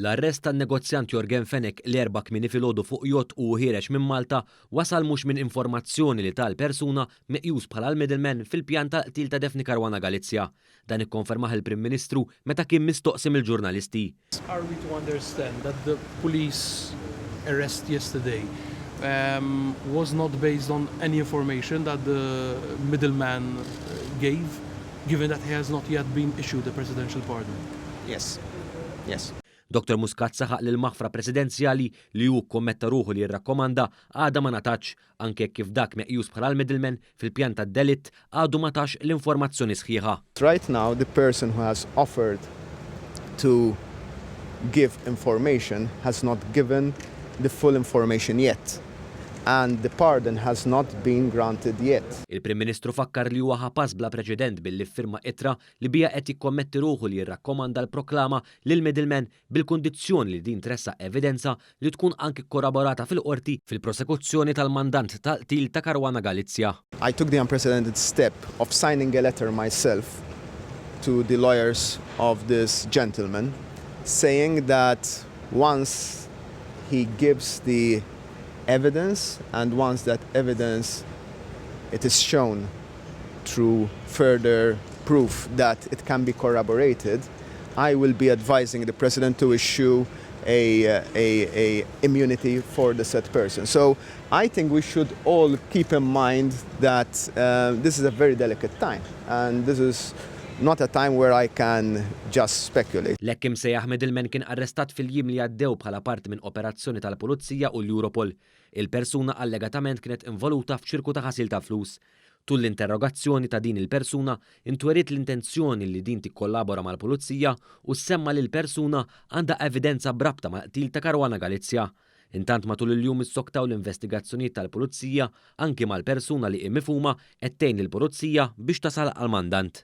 L-arrest tan-negozjant Yorgen Fenech li l-Erbgħa kmieni filgħodu fuq jott u hu ħiereġ minn Malta wasal mhux minn informazzjoni li ta l-persuna meqjus bħala l-middleman fil-pjan tal-qtil ta' Daphne Caruana Galizia. Dan ikkonfermah il-Prim Ministru meta kien mistoqsi mill-ġurnalisti. Are we to understand that the police arrest yesterday was not based on any information that the middle man gave, given that he has not yet been issued a presidential pardon? Yes. Yes. Doctor Muscat saħaq li l-maħfra presidenzjali li hu kkommetta ruħu li jirrakkomanda għadha ma ngħatatx anke jekk kif dak meqjus bħala l-middleman fil-pjan tad-delitt għadu ma tax l-informazzjoni sħiħa. Right now the person who has offered to give information has not given the full information yet and the pardon has not been granted yet. Il-Prim Ministru fakkar li huwa ħa pass bla preċedent billi ffirma ittra li biha qed jikkommetti ruħu li jirrakkomanda l-proklama lill-middleman bil-kundizzjoni li din tressaq evidenza li tkun anki kkorroborata fil-Qorti fil-prosekuzzjoni tal-mandant tal-qtil ta' Caruana Galizia. I took the unprecedented step of signing a letter myself to the lawyers of this gentleman saying that once he gives the evidence and once that evidence it is shown through further proof that it can be corroborated, I will be advising the President to issue a a a immunity for the said person. So, I think we should all keep in mind that uh, this is a very delicate time and this is not a time where I can just speculate. L-hekk imsejjaħ middleman kien arrestat fil-jiem li għaddew bħala parti minn operazzjoni tal-Pulizija u l-Europol. Il-persuna allegatament kienet involuta f'ċirku ta' ħasil ta' flus. Tul l-interrogazzjoni ta' din il-persuna, intweriet l-intenzjoni li din tikkollabora mal-Pulizija u ssemma li l-persuna għandha evidenza b'rabta mal-qtil ta' Caruana Galizia. Intant matul il-jum issoktaw l-investigazzjonijiet tal-Pulizija anki mal-persuna li hi mifhuma qed tgħin lill-Pulizija biex tasal għall-mandant.